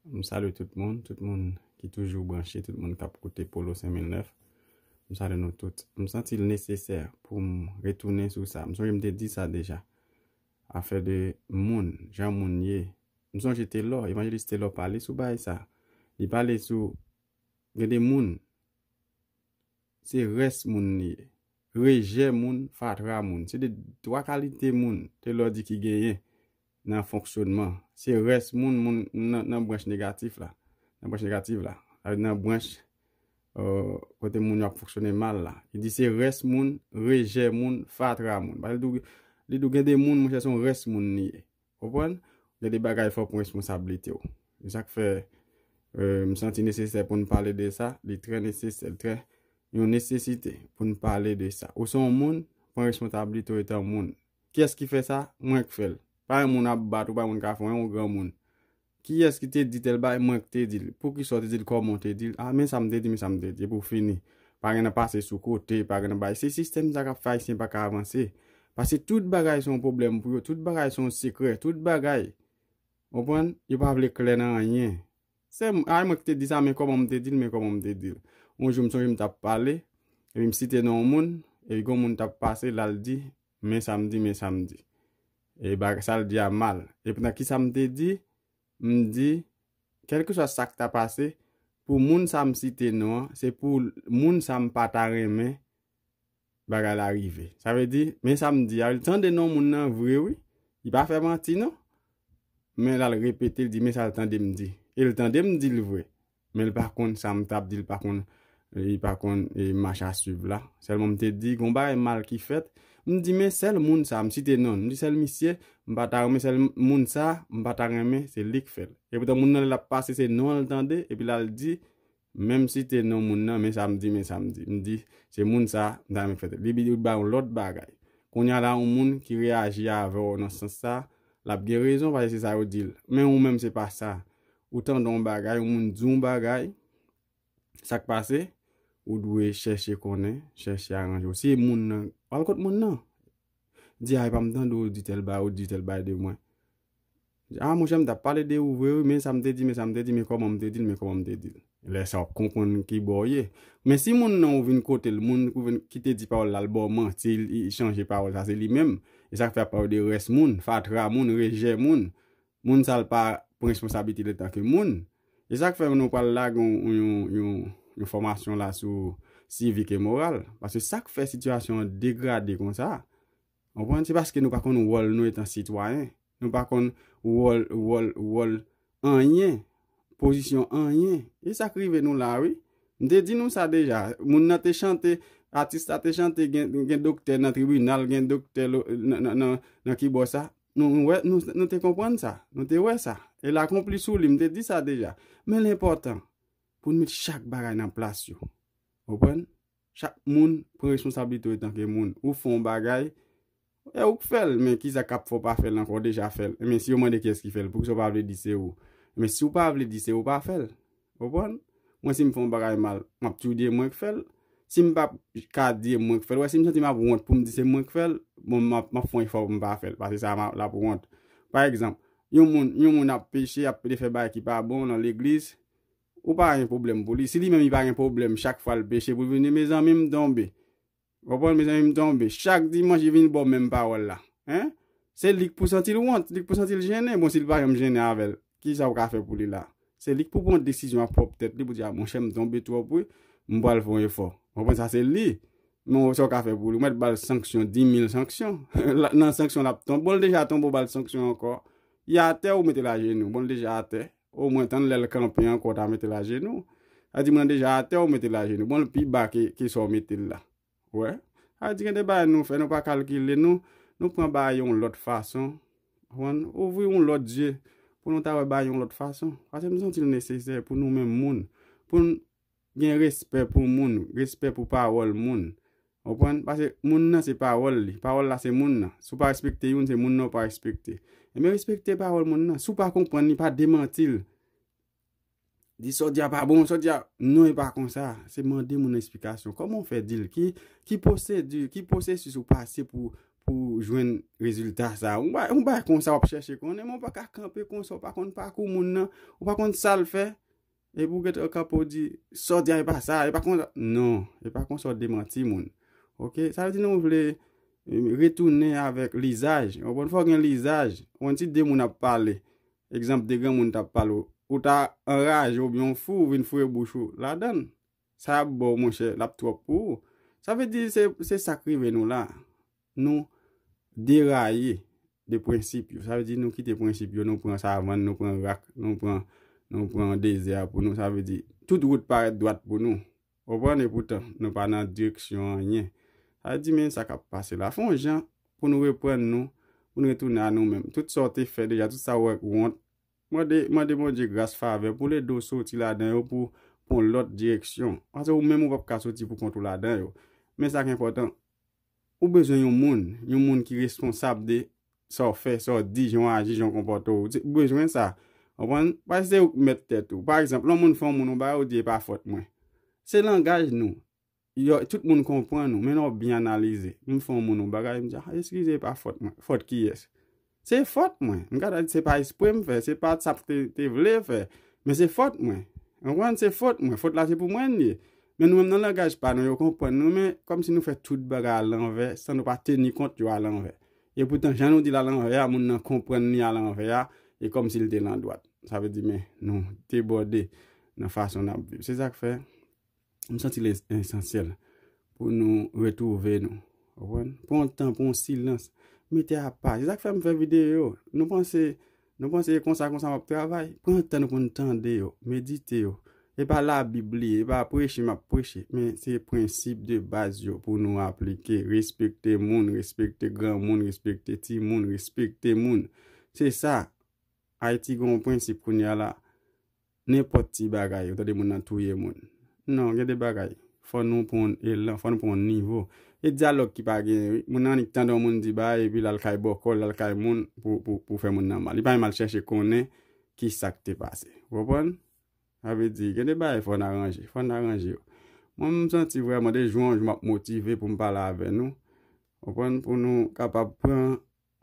M salye tout moun, tout moun ki toujou branche, tout moun kap koute Polo 5009. M salye nou tout. M santi l nesesè pou m retounen sou sa. M sonje m te di sa deja. Afè de moun, jan moun ye. M sonje Telor, Evangelist Telor pale sou bagay sa. Li pale sou gen de moun. Se rès moun li ye. Rejè moun, fatra moun. Se de twa kalite moun Telor di ki genyen nan fonksyonman. Se rès moun, moun nan branch negatif la. Nan branch negatif la. Nan branch kote moun yo ap fonksyone mal la. Li di se rès moun, rejè moun, fatra moun. Li di ou gen de moun, monchè se yon rès moun li ye. Konprann? Gen de bagay fòk ou responsablite w. Se sa k fè m santi nesesè pou n pale de sa, li trè nesesè, li trè yon nesesite pou n pale de sa. Ou se yon moun, pran responsablite w etan moun. Kiyès ki fè sa? Mwen k fè l. Pa yon moun ap bat ou, pa yon moun k ap fè w, yon granmoun. Kiyès ki te di tèl bagay mwen ki te dil poukisa ou te dil kòman ou te dil a men sa m te di men sa m te di epi ou fini pa gen nan pase sou kote pa gen nan bay se sistèm sa kap fè ayisyen pa ka avanse paske tout bagay se yon pwoblèm pou yo tout bagay se yon sekrè tout bagay ou konprann yo pa vle klè nan anyen se m a mwen ki te di sa men kòman m te dil men kòman m te dil yon jou m sonje m tap pale epi m site non yon moun epi gon moun tap pase lal di Men sa m di, men sa m di. E baga, sa l di a mal. E poutan ki sa m te di? M di, kèlkeswa sa k ta pase, pou moun sa m site non an, se pou moun sa m pa ta renmen bagay la rive. Sa vle di, men sa m di a, li tande non moun nan vre wi. Li pa fè manti non. Men l al repete, li di men sa l tande m di. E l tande m di l vre. Menl pa konn sa m tap di l pa konn li pa konn mach a swiv la sèlman m te di gon bagay mal ki fèt m di men sèl moun sa m site non l m di sèl misye m pa ta renmen sèl moun sa m pa ta renmen se lik fèl epoutan moun nan lè lap pase se non l tande epi lal di menm site non moun nan men sa m di men sa m di m di se moun sa m ta renmen fèt li li bay yon lòt bagay kounya la yon moun ki reyaji avèw nan sans sa lap gen rezon paske se sa yo di l men ou menm se pa sa Ou tande yon bagay, yon moun di yon bagay, sa k pase? Ou dwe chèche konnen, chèche aranje w. Si e moun nan, al kot moun nan. Di a, epa m tande ou di tèl bagay, ou di tèl bagay de mwen. A monchè m t ap pale de ou vre wi, men sa m te di, men sa m te di, men kòman m te di l, men kòman m te di l. Lè sa w ap konprann ki bò w ye. Men si moun nan ou vin kote l, moun ki te di pawòl la l ba w manti, li chanje pawòl, sa se li menm. E sa k fè a ap pale de rès moun, fatra moun, rejè moun. Moun sa l pa pran responsablite l antan ke moun. E sa k fè nou pral lage yon fòmasyon la sou sivik e moral. Paske sa k fè sitiyasyon an degrade konsa, ou konprann, se paske nou pa konn wòl nou etan sitwayen. Nou pa konn wòl, wòl, wòl anyen, pozisyon anyen. E sa k rive nou la a wi. M te di nou sa deja. Moun nan te chante, atis la te chante gen doktè nan tribinal, gen doktè nan kibò sa. Nou wè, nou te konprann sa. Nou te wè sa. E l akonpli sou li. M te di sa deja. Men l enpòtan pou nou met chak bagay nan plas yo. Ou konprann? Chak moun pran responsablite yo etanke moun. Ou fè yon bagay, e ou k fè l. Men kisa k ap fè w pa fè l ankò? Ou deja fè l. Men si yo mande kiyès ki fè l, poukisa ou pa vle di se ou? Men si ou pa vle di se ou, pa fè l. Konprann? Mwen si m fè yon bagay mal, m ap toujou di e mwen k fè l. Si m pa ka di e mwen k fè l, wè si m santi m ap wont pou m di se mwen k fè l, bon m ap fè yon efò pou m pa fè l paske sa l ap wont. Pa egzanp, yon moun yon moun ap peche, ap fè bagay ki pa bon nan legliz, ou pa gen pwoblèm pou li. Si li menm li pa gen pwoblèm chak fwa l peche pou l vin di mezanmi m tonbe. Konprann mezanmi m tonbe. Chak dimanch li vin baw menm pawòl la. Hein? Se lik pou santil wont, lik pou santil jennen, bon sil pa janm jennen avèl, kisa ou ka fè pou li la? Se lik pou pran desizyon ak pwòp tèt li pou di a monchè m tonbe twòp wi, m pral fè yon efò. Konprann sa se li. Men wè sa ou ka fè pou li. Ou mèt bal sanksyon, dimil sanksyon. Nan sanksyon lap tonbe. Bon li deja tonbe ou bal sanksyon ankò. Li atè ou metel ajenou. Bon li deja atè. Oh mwen tann lèl kanpe ankò ou ta metel ajenou sa di mwen deja atè ou metel ajenou bon l pi ba ke sa ou metel la ou wè sa di gen de bagay nou fè nou pa kalkile nou nou pran bagay yon lòt fason konprann ouvri yon lòt zye pou nou ta wè bagay yon lòt fason paskem santil nesesè pou nou menm moun poun Gen respè pou moun, respè pou pawòl moun. Ou konprann? Pase moun nan se pawòl li. Pawòl la se moun nan. Si w pa respekte youn, se moun nan ou pa respekte. Enben respekte pawòl moun nan. Si w pa konprann li, pa demanti l. Di sa w di a pa bon, sa w di a, non e pa konsa. Se mande moun esplikasyon. Kòman w fè di l? Ki pwosedi, ki pwosesis ou pase pou ou jwenn rezilta sa? Yon bagay konsa w ap chèche konnen men ou pa ka kanpe konsa ou pa konn pakou moun nan, ou pa konn sa l fè. E pou gèt ok apo di sa w di a e pa sa e pa konsa non e pa konsa w demanti moun ok sa vle di nou vle retounen avèk lizaj ou konprann fò gen lizaj ou konprann si de moun ap pale egzanp de granmoun t ap pale ou ta anraje oubyen w fou ou vin foure bouch ou ladan l Sa yap baw monchè lap trop pou ou sa vle di se sak rive nou la nou deraye de prensip yo sa vle di nou kite prensip yo nou pran savann nou pran rak nou pran nou pran dezè a pou nou sa vle di tout wout parèt dwat pou nou ou konprann e poutan nou pa nan direksyon anyen sa vle di men sa kap pase la fon jan pou nou reprann nou pou nou retounen a nou menm tout sa ou te fè deja tout sa ou wè k wont Mande mande Bondye gras favè poul ede w soti ladan yo pou pwan lòt direksyon pase ou menm ou pap ka soti pou kont ou ladan yo men sak enpòtan ou bezwen yon moun yon moun ki responsab de sa w fè sa w di jan w aji jan w konpòte w ou bezwen sa konprann pase se ou k mèt tèt ou pa egzanp lè yon moun fè yon moun yon bagay ou di epa fòt mwen se langaj nou Yo tout moun konprann ou men lè w byen analize. M fè yon moun yon bagay m di ah eskize e pa fòt mwen. Fòt kiyès? Se fòt mwen. M ka ta di se pa espre m fè, se pa sa m te vle fè. Men se fòt mwen. Ou konprann? Se fòt mwen. Fòt la se pou mwen li ye. Men nou menm nan langaj pa nou yo konprann nou men kòmsi nou fè tout bagay a lanvè san nou pa teni kont yo a lanvè. E poutan jan nou di l a lanvè a moun nan konprann li a lanvè a e kòmsi l te landwat. Sa vle di men nou debòde nan fason n ap viv. Se sa k fè. M santi li esansyèl pou nou retwouve nou. Ou konprann? Pran yon tan, pran yon silans. Mete apa. Se sa k fè m fè videyo yo. Nou panse nou panse e konsa konsa m ap travay? Pran yon tan nou pou nou tande yo, medite yo. E pa labib li, e pa preche m ap preche. Men se prensip de baz yo pou nou aplike. Respekte moun, respekte granmoun, respekte timoun, respekte moun. Se sa. Ayiti gen yon prensip kounye a la. Nenpòt ti bagay ou tande moun nan touye moun. Non, gen de bagay, fò nou pran yon elan, fò nou pran yon nivo. E dyalòg ki pa genyen wi. Moun nan annik tande yon moun di bagay epi l al kay bòkò, l al kay moun pou fè moun nan mal. Li pa menm al chèche konnen ki sa k te pase. Ou konprann? Sa vle di, gen de bagay fò n aranje. Fò n aranje yo. Mwen menm m santi vrèman de jou an jou m ap motive pou m pale avè nou. Ou konprann? Pou nou kapab pran.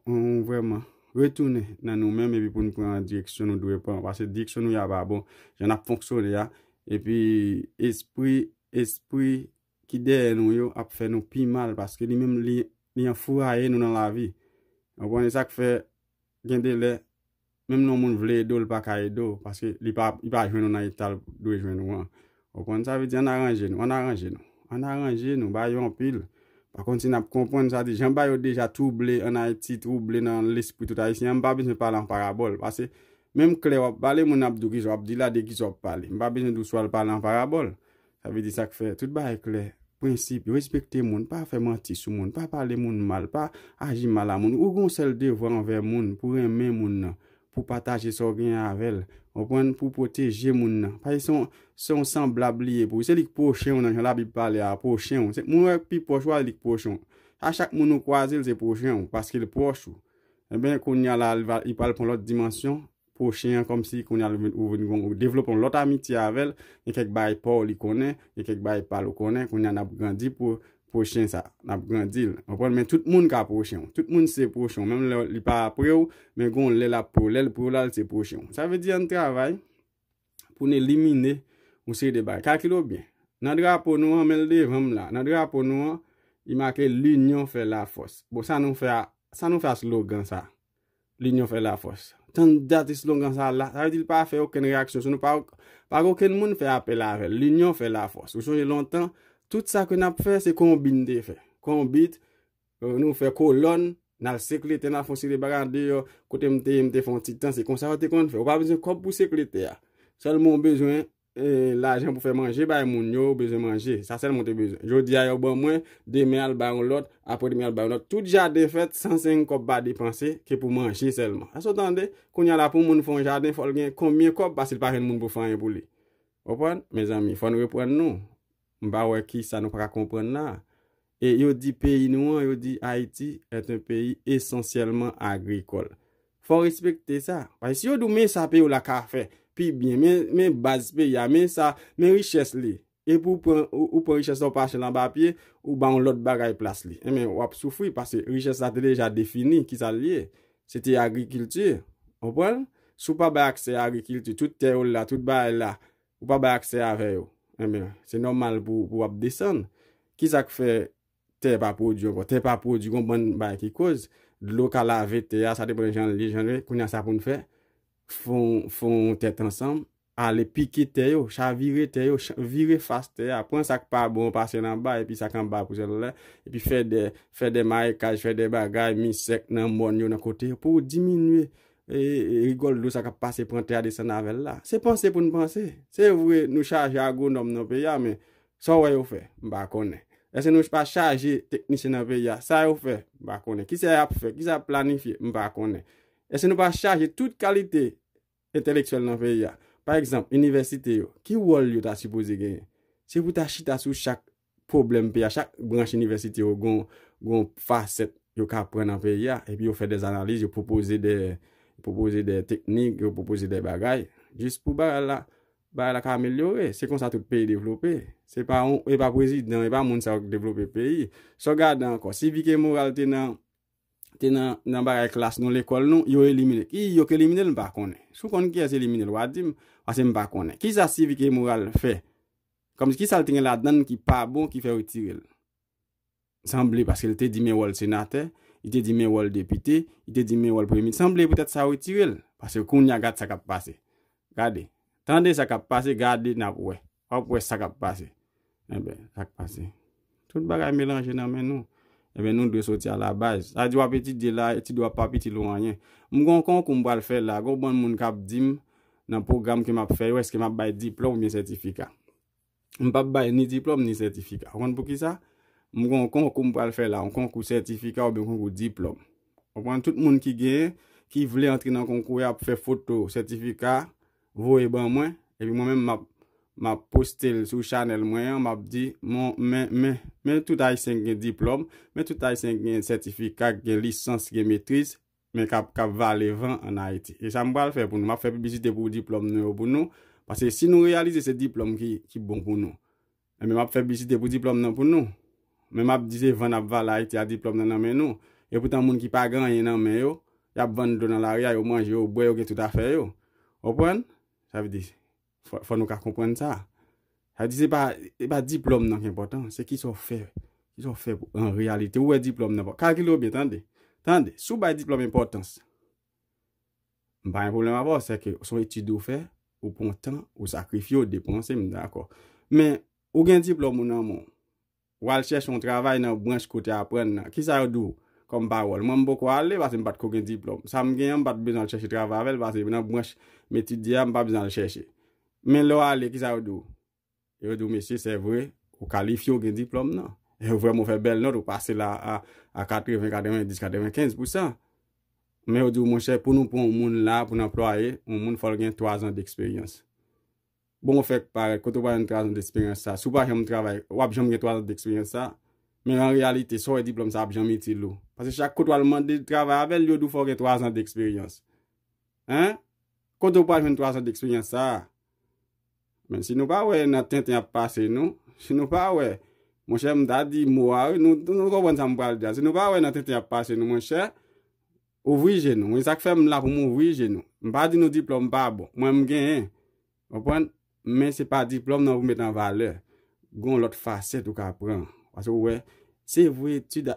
Humm vrèman. Retounen nan nou menm epi pou nou pran direksyon nou dwe pran. Pase direksyon nou ye a pa bon. Jan nap fonksyone a. Epi espri espri ki dèyè nou yo ap fè nou pi mal paske li menm li anfouraye nou nan lavi. Ou konn e sak fè gen de lè Menm lè yon moun vle ede w li pa ka ede w paske li pa li pa jwenn ou nan eta l dwe jwenn ou an. Ou konprann sa vle di ann aranje nou ann aranje nou ann aranje nou ba yo anpil pa konn si n ap konprann sa di jan ba yo deja twouble ann Ayiti twouble nan lespri tout Ayisyen an m pa bezwen pale an parabòl pase menm klè w ap pale moun nan ap di w kisa w ap di la de kisa w ap pale m pa bezwen di w si w al pale an parabòl Sa vle di sa k fè tout bagay klè, prensip, respekte moun, pa fè manti sou moun, pa pale moun mal, pa aji mal a moun. Ou gen yon sèl devwa anvè moun, pou renmen moun nan, pou pataje sa w genyen avè l, ou konprann, pou w pwoteje moun nan. Paske se yon, se yon sanblab li ye pou ou. Se li k pwochen w nan, jan Labib pale a, pwochen w. Se moun ou wè k pi pwòch ou a, li k pwochen w. A chak moun ou kwaze l se pwochen w, paske l pwòch ou. Enben, kounye a la, li pral pran lòt dimansyon. pwochen an kòmsi kounye a ou vin gon ou devlope yon lòt amitye avè l gen kèk bagay pa w li konnen gen kèk bagay pa l ou konnen kounye a n ap grandi pou pwochen sa n ap grandi l konprann men tout moun ka pwochen w tout moun se pwochen w menm lè li pa pre w men gon lè l ap pre w lè l pre w la l se pwochen w sa vle di ann travay pou n elimine yon seri de bagay kalkile byen nan drapo nou an men l devan m la nan drapo nou an li make l inyon fè lafòs bon sa nou fè a sa nou fè a slogan sa. Linyon fè lafòs. Tann dat eslogan sa la. Sa vle di li pa fè okenn reyaksyon sou nou. Pa gen okenn moun fè apèl avè l. Linyon fè lafòs. Ou sonje lontan, tout sa ke n ap fè, se konbit n te fè. Konbit, nou fè kolòn, n al sekle tè, n al fè yon seri de bagay an deyò. Kote m te ye, m te fè yon ti tan. Se konsa yo te konn fè. Ou pa bezwen kòb pou sekle tè a. Sèlman ou bezwen Lajan pou fè manje bay moun yo bezwen manje. Sa sèlman ou te bezwen. Jodi a yo ban mwen, demen al bay yon lòt, apre demen al bay yon lòt. Tout jaden fèt san se yon kòb pa depanse ke pou manje sèlman. Sa sa ou tande? Kounye a la pou moun fè yon jaden fò l gen konbyen kòb pase l pa jwenn moun pou fè anyen pou li. Ou konprann? Mezanmi, fò n reprann nou. M pa wè ki sa nou pa ka konprann la. E yo di peyi nou an, yo di Haiti est un pays essentiellement agricole. Fò w respekte sa. Paske si yo di w men sa peyi w la ka fè pi byen, men baz peyi a, men sa, men richès li. Epi w pran, ou pran richès la ou pa chèl anba pye, ou ba yon lòt bagay plas li. Enben w ap soufri paske richès la te deja defini ki sa l ye. Se te agrikilti. Konprann? Si w pa bay aksè a agrikilti, tout tè yo la, tout bagay la, Ou pa bay aksè avè yo. Enben, se nòmal pou w ap desann. Ki sa k fè tè pa pwodui ankò? Tè pa pwodui, gen yon bann bagay ki koz. Dlo ka lave tè a, sa depan jan l ye, jan l ye. Kounye a, sa pou n fè? Fè yon tèt ansanm, ale pike tè yo, chavire tè yo, vire fas tè a, pran sa k pa bon, pase l anba, epi sa k anba a pouse l anlè, epi fè de marekaj, fè de bagay, mi sèk nan mòn yo, nan kote yo, pou w diminye Rigòl dlo sa kap pase pran tè a desann avèl la. Se panse poun panse. Se vre nou chaje agronòm nan peyi a men sa w wè yo fè? M pa konnen. Eske nou pa chaje teknisyen nan peyi a? Sa yo fè? M pa konnen. Kisa yap fè? Kisa yap planifye? M pa konnen. Eske nou pa chaje tout kalite entelektyèl nan peyi a? Pa egzanp, inivèsite yo, ki wòl yo ta sipoze genyen? Se pou ta chita sou chak pwoblèm peyi a. Chak branch inivèsite yo gen yon fasèt yo ka pran nan peyi a. Epi yo fè de analiz, yo pwopoze de, yo pwopoze de teknik, yo pwopoze de bagay. Jis pou bagay la, bagay la ka amelyore. Se konsa tout peyi devlope. Se pa yon, e pa prezidan, e pa moun sa yo ki devlope peyi. Sa w gade ankò, si vi ke moral te nan, te nan, nan bagay klas nou, lekòl nou, yo elimine. Ki yo ki elimine l, m pa konnen. Si w konn kiyès elimine l, w a di m. Pase m pa konnen. Kisa sivik e moral fè Komsi kisa l t gen ladann ki pa bon ki fè retire l? Sanble paske l te di men wòl senatè, li te di men wòl depite, li te di men wòl premye minis. Sanble poutèt sa yo retire l. Paske kounya gad sa k ap pase. Gade. Tande sa k ap pase, gade n ap wè. W ap wè sa k ap pase. Enben, sa k pase. Tout bagay melanje nan men nou. Ebyen nou dwe soti a la baz. Sa di wap etidye la, etid ou ap pap itil ou anyen. M gon konkou m pral fè la, gon bann moun kap dim nan pwogram ke map fè yo eske map bay diplòm oubyen sètifika. M pap bay ni diplòm ni sètifika. Ou konn poukisa? M gon konkou m pral fè la, yon konkou sètifika oubyen konkou diplòm. Konprann? Tout moun ki gen, ki vle antre nan konkou ya ap fè foto sètifika. voye ban mwen epi mwen menm map map postel sou chanèl mwen an map di mon men men men tout ayisyen ki gen diplòm men tout ayisyen ki gen sètifika ki gen lisans ki gen metriz men kap kap vale van an ayiti esam pral fè pou nou map fè piblisite pou diplòm nou yo pou nou paske si nou reyalize se diplòm ki ki bon pou nou Enben map fè piblisite pou diplòm nan pou nou. Men map di se vann ap vale Ayiti a diplòm nan nan men nou. E poutan moun ki pa gen anyen nan men yo, yap vann dlo nan lari a, yo manje, yo bwè, yo gen tout afè yo. Ou konprann? Sa vle di, fò nou ka konprann sa. Sa vle di se pa, se pa diplòm nan ki enpòtan, se kisa ou fè, kisa ou fè an reyalite. Ou wè diplòm nan pa, kalkile w byen tande, tande, si w bay diplòm enpòtans, M pa gen pwoblèm avè w, sèke s on etid ou fè, ou pran tan, ou sakrifye, ou depanse, m dakò. Men, ou gen diplòm ou nan men w, w al chèche yon travay nan branch kote w aprann nan, kisa yo di w kòm pawòl? Mwen m poko ale pase m pa t ko gen diplòm. Sa m gen an m pa t bezwen al chèche travay avè l pase nan branch m etidye a m pa bezwen al chèche. Men lè w ale kisa yo di w? Yo di w mesi se vre ou kalifye ou gen diplòm nan. E ou vrèman ou fè bèl nòt ou pase la a a 80, 90, 95 pou san. Men yo di w monchè pou nou pran yon moun la pou n anplwaye yon moun fò l gen 3 zan deksperyans. Bon ou fèk parèt kote ou pral jwenn 3 zan deksperyans sa. Si w pa janm travay w ap janm gen 3 zan deksperyans sa. Men an reyalite sa w wè diplòm sa ap janm itil ou. Paske chak kote w al mande travay avè l yo di w fò w gen 3 zan deksperyans. Hein! Kote ou pral jwenn 3 zan deksperyans sa a? Men si nou pa wè nan tenten ap pase nou, si nou pa wè, monchè m ta di mo a wi, nou konprann sa m pral di a, si nou pa wè nan tenten ap pase nou monchè, ouvri je nou, e sa k fè m la pou m ouvri je nou. M pa di nou diplòm pa bon, mwen m genyen, ou konprann, men se pa diplòm nan pou met an valè, gon lòt fasèt ou ka pran, paske ou wè, se vre etid,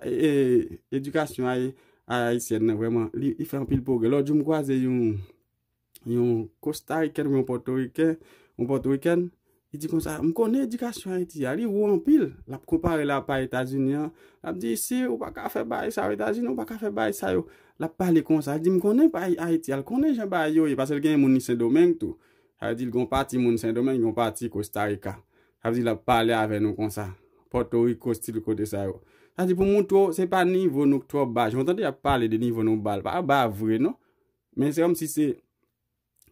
edikasyon ayisyèn nan vrèman, li fè anpil pwogrè, lòt jou m kwaze yon. yon kostariken ou yon pòtoriken, yon pòtorikèn, li di konsa, m konnen edikasyon Ayiti a, li wo anpil, l ap konpare l a pa Etazini an, l ap di isi ou pa ka fè bagay sa yo, Etazini ou pa ka fè bagay sa yo, l ap pale konsa, li di m konnen bagay Ayiti a, l konnen jan bagay yo ye, paske l gen moun li Sendomeng tou, sa vle di l gen yon pati moun Sendomeng, yon pati Kostarika, sa vle di l ap pale avè nou konsa, Pòtoriko stil kote sa yo. Sa vle di pou m montre w se pa nivo nou k twò ba, jan w tande y ap pale de nivo nou ba, l pa ba vre non. Men se kòmsi se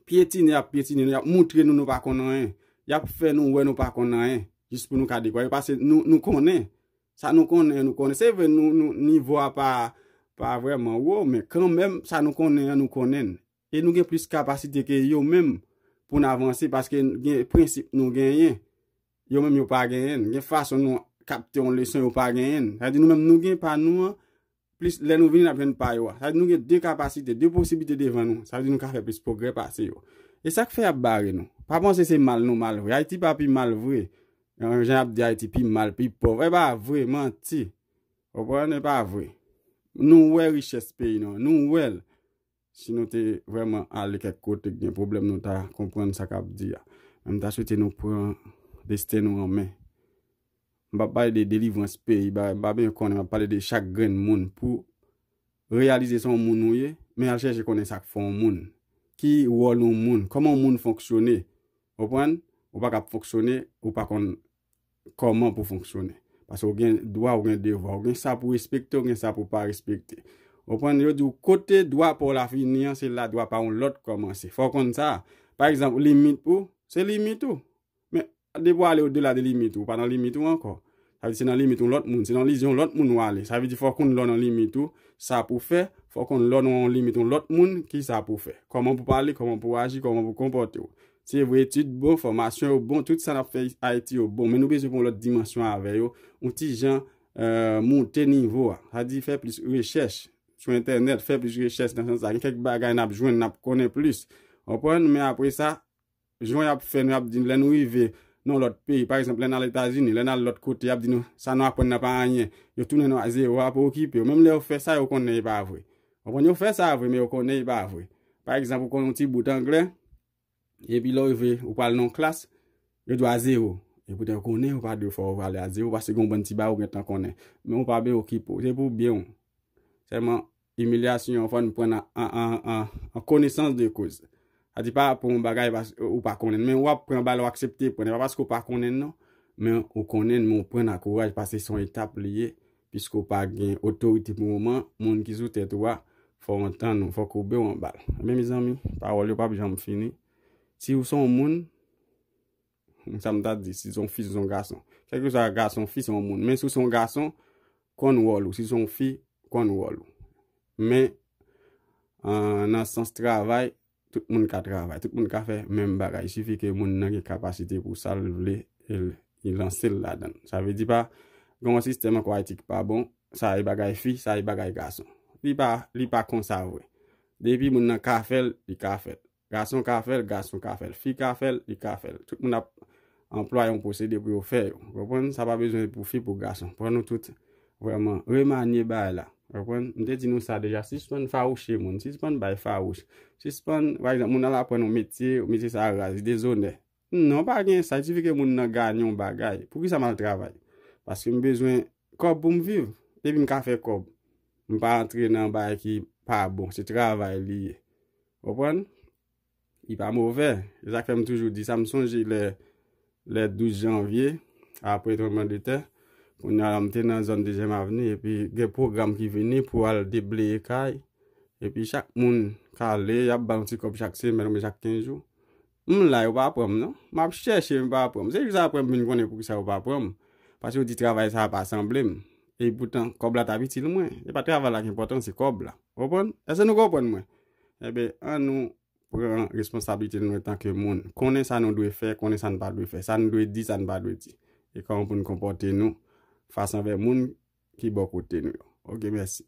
pyetine y ap pyetine nou, y ap moutre nou nou pa konn anyen, y ap fè nou wè nou pa konn anyen, jis pou nou ka dekwa yo, pase nou konnen, sa nou konnen an nou konnen, se vre nivo a pa vreman wo, men kanmenm sa nou konnen an nou konnen, e nou gen plis kapasite ke yo menm pou nou avanse, paske gen prensip nou genyen, yo menm yo pa genyen, gen fason nou kapte yon leson yo pa genyen, sa di nou menm nou gen pa nou an, Plis lè nou vini n ap jwenn pa yo a. Sa vle di nou gen de kapasite, de posiblite devan nou. Sa vle di nou ka fè plis pwogrè pase yo. E sa k fè y ap bare nou? Pa panse se mal nou mal vre. Ayiti pa pi mal vre. Jan y ap di Ayiti pi mal, pi pòv. E pa vre. Manti. Ou konprann? E pa vre. Nou wè richès peyi nou an. Nou wè l. Si nou te vreman ale kek kote ki gen pwoblem nou ta konprann sa kap di a. Men m ta swete nou pran desten nou an men. M pap pale de delivrans peyi bagay m pa byen konnen map pale de chak grenn moun pou reyalize se yon moun ou ye men al chèche konnen sak fè yon moun. Ki wòl yon moun, koman yon moun fonksyone. Konprann? Ou pa kap fonksyone ou pa konn Kòman pou fonksyone. Paske ou gen dwa, ou gen devwa. Ou gen sa pou respekte, ou gen sa pou pa respekte. Ou konprann? Yo di ou kote dwa pa w la fini an, se la dwa pa yon lòt kòmanse. Fò w konn sa. Pa egzanp, limit ou, se limit ou. Men, depi w ale odela de limit ou, ou pa nan limit ou ankò. Sa vle di se nan limit yon lòt moun. Se nan limit yon lòt moun w ale. Sa vle di fò w konn lè w nan limit ou, sa pou w fè. Fò w konn lè w nan yon limit yon lòt moun, ki sa pou w fè. Kòman pou w pale, kòman pou w aji, kòman pou w konpòte w. Se vre etid bon, fòmasyon yo bon, tout sa nap fè Ayiti yo bon, men nou bezwen pran yon lòt dimansyon avè yo, yon ti jan moute nivo a. Sa di fè plis rechèch sou entènèt, fè plis rechèch nan sans sa, gen kèk bagay nap jwenn, nap konnen plis. Ou konprann? Men apre sa, jan yap fè nou, yap di nou lè nou rive nan yon lòt peyi, pa egzanp lè nal Etazini, lè nal lòt kote, yap di nou sa nou aprann nan pa anyen, yo tounen nou a zewo, a pa okipe yo. Menm lè yo fè sa, yo konnen e pa vre. Ou konn yo fè sa vre men yo konnen li pa vre. Pa egzanp ou konn yon ti bout anglè epi lè ou rive ou pral nan yon klas yo di w a zewo epoutan yo konnen ou pa dwe fè ou pale a zewo paske gen yon bann ti bagay ou gentan konnen men ou pa ben okipe w se pou byen w sèlman imilyasyon an fò n pran l an konesans de koz Sa di pa pran yon bagay ou pa konnen men wap pran bal ou aksepte pran e pa paske ou pa konnen non men ou konnen men ou pran ak kouraj paske son etap li ye piske ou pa gen otorite pou moman moun ki sou tèt ou a fò ou antann ou fò koube ou anbal men mezanmi pawòl yo pap janm fini si ou son moun. Humm sa m ta di si se yon fi si se yon gason. Kèlkeswa gason ou fi se yon moun. Men si w se yon gason, konn wòl ou. Si w se yon fi, konn wòl ou. Men nan sans travay, tout moun ka travay. Tout moun ka fè menm bagay. Sifi ke moun nan gen kapasite pou sa l vle li lanse l ladan l. Sa vle di pa gen yon sistèm ankò Ayiti ki pa bon, sa e bagay fi, sa e bagay gason. Li pa konsa vre. Depi moun nan ka fè l, li ka fè l. Gason ka fè l, gason ka fè l. Fi ka fè l, li ka fè l. Tout moun ap anplwa yon pwosede pou yo fè yo. Ou konprann? Sa pa bezwen pou fi, pou gason. Pran nou tout vrèman remanye bagay la. Ou konprann? M te di nou sa deja. Sispann fawouche moun. Sispann bay fawouch. Sispann, pa egzanp, moun al aprann yon metye, metye sa a raz, li dezonè. Non pa gen sa, itifi ke moun nan ganye yon bagay. Pou kisa m al travay? Paske m bezwen kòb pou m viv. Depi m ka fè kòb, m pa antre nan bagay ki pa bon. Se travay li ye. Ou konprann? Li pa movè. Se sa k fè m toujou di sa. M sonje lè, lè 12 janvye, apre tranbleman de tè, kounye a la m te nan zòn dezyèm avni, epi gen pwogram ki vini pou al debleye kay, epi chak moun k ale, y ap ba l yon ti kòb chak semèn oubyen chak kenz jou. M la yo pa pranm non. Map chèche m pa pranm. Se jis aprè m vin konnen poukisa yo pa pranm. Pase yo di travay sa a pa sanble m. E poutan kòb la tap itil mwen. Se pa travay la ki enpòtan se kòb la. Ou konprann? Eske nou konprann mwen? Enben an nou pran responsablite nou antan ke moun. Konnen sa nou dwe fè, konnen sa n pa dwe fè. Sa n dwe di, sa n pa dwe di. E kòman pou n konpòte nou fas anvè moun ki bò kote nou yo. Ok mèsi.